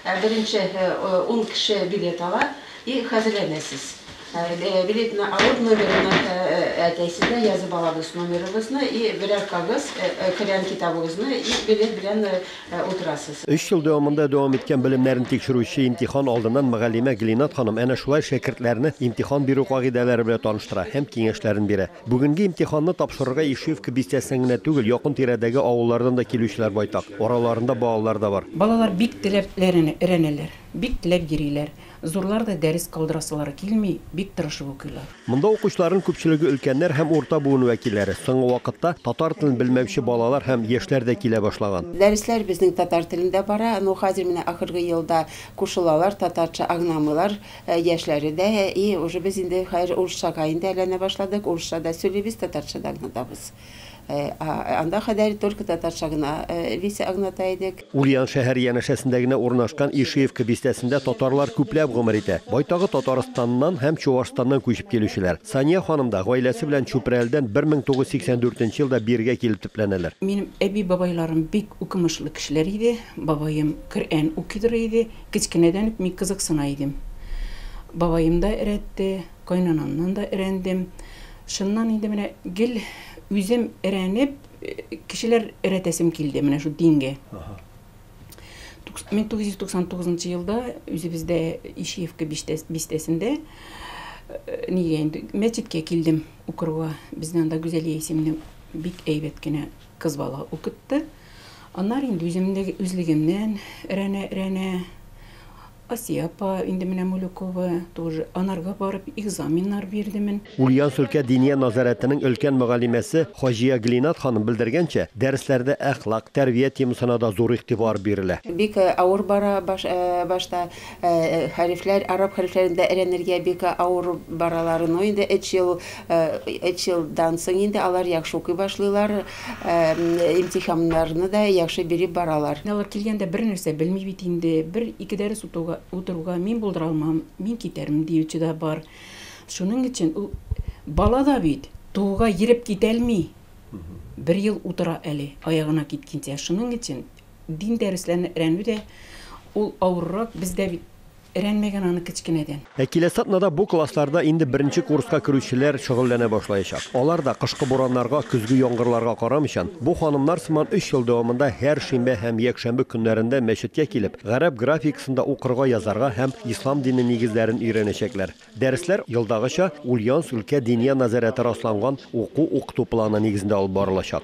Ә беренче ун кеше билет ала и хәзерләнәсез. Билетны алып, номерны әйтәсез дә, язып алабыз номерыгызны и берәр кагыз, керән китабыгызны и билет белән утырасыз. Өч ел дәвамында дәвам иткән белемнәрен тикшерүче имтихан алдыннан мөгаллимә Гленат ханым әнә шулай шәкертләрне имтихан бирү кагыйдәләре белән таныштыра һәм киңәшләрен бирә. Бүгенге имтиханны тапшырырга Ишиевка бистәсеннән генә түгел, якын-тирәдәге авыллардан да килүчеләр байтак. Араларында балалар да бар. Балалар бик теләп өйрәнәләр, бик теләп йөриләр. Зурлар да дәрес калдырасылары килми, бик тырышып укыйлар. Монда укучыларның күпчелеге өлкәннәр һәм урта буын вәкилләре. Соңгы вакытта татар телен белмәүче балалар һәм яшьләр дә килә башлаган. Дәресләр безнең татар телендә бара, но хәзер менә ахыргы елда кушылалар, татарча аңламыйлар, Ә яшьләре дә, әйе, уже без инде хәзер урысчага инде әйләнә башладык, урысча да сөйлибез, татарча да аңлатабыз. Ә анда кадәр только татарча гына Лиса аңлата идек. Ульян шәһәре янәшәсендә генә урнашкан Ишиевка бистәсендә татарлар күпләп гомер итә. Байтагы Татарстаннан һәм Чуашстаннан күчеп килүчеләр. Сания ханым да гаиләсе белән Чүпрәледән 1984 елда бирегә килеп төпләнәләр. Минем әби-бабайларым бик укымышлы кешеләр иде. Бабаем Коръән укыйдыр иде. Кечкенәдән үк мин кызыксына идем. Бабаем да эрәтте, кайнанамнан да эрәндем. Шуннан инде менә гел үзем эрәнеп, кешеләр эрәтәсем килде менә шул дингә. 1999 елда үзебездә Ишиевка бистәсендә нигә инде мәчеткә килдем укырга. Безне анда Гүзәлия исемле бик әйбәт кенә кыз бала укытты. Аннары инде үзем дә үзлегемнән рәнә-рәнә. Асия апа, инде менә Мулюкова, тоже анарга барып экзаменнар бирдемен. Ульян Сөлкә Диния назарәтенең өлкән мөгаллимәсе Хаҗия Глинат ханым белдергәнчә, дәресләрдә әхлак, тәрбия темасына да зур игътибар бирелә. Бик авыр бара башта, хәрефләр, араб хәрефләрен дә рәнергә бик авыр баралар, но инде өч ел, өч елдан соң инде алар яхшы укый башлыйлар. Имтиханнарны да яхшы биреп баралар. Алар килгәндә бер нәрсә белми бит инде, бер ике дәрес утыруга мин булдыра алмам, мин китәрмен диюче дә бар. Шуның өчен ул бала да бит тууга йереп китәлми. Бер ел утыра әле, аягына киткенчә. Шуның өчен дин дәресләрен рәнү дә ул авыррак, без дә бит. Рәнмәгән аны кечкенәдән. Ә киләсе атнада бу классларда инде беренче курска керүчеләр шөгыльләнә башлаячак. Алар да, кышкы бураннарга, көзге яңгырларга карамыйчан, бу ханымнар сыман өч ел дәвамында һәр шимбә һәм якшәмбе көннәрендә мәчеткә килеп, гарәп графикасында укырга, язарга һәм ислам дине нигезләрен өйрәнәчәкләр. Дәресләр, елдагыча, Ульяновск өлкә Диния назәрәте расланган уку-укыту планы нигезендә алып барылачак.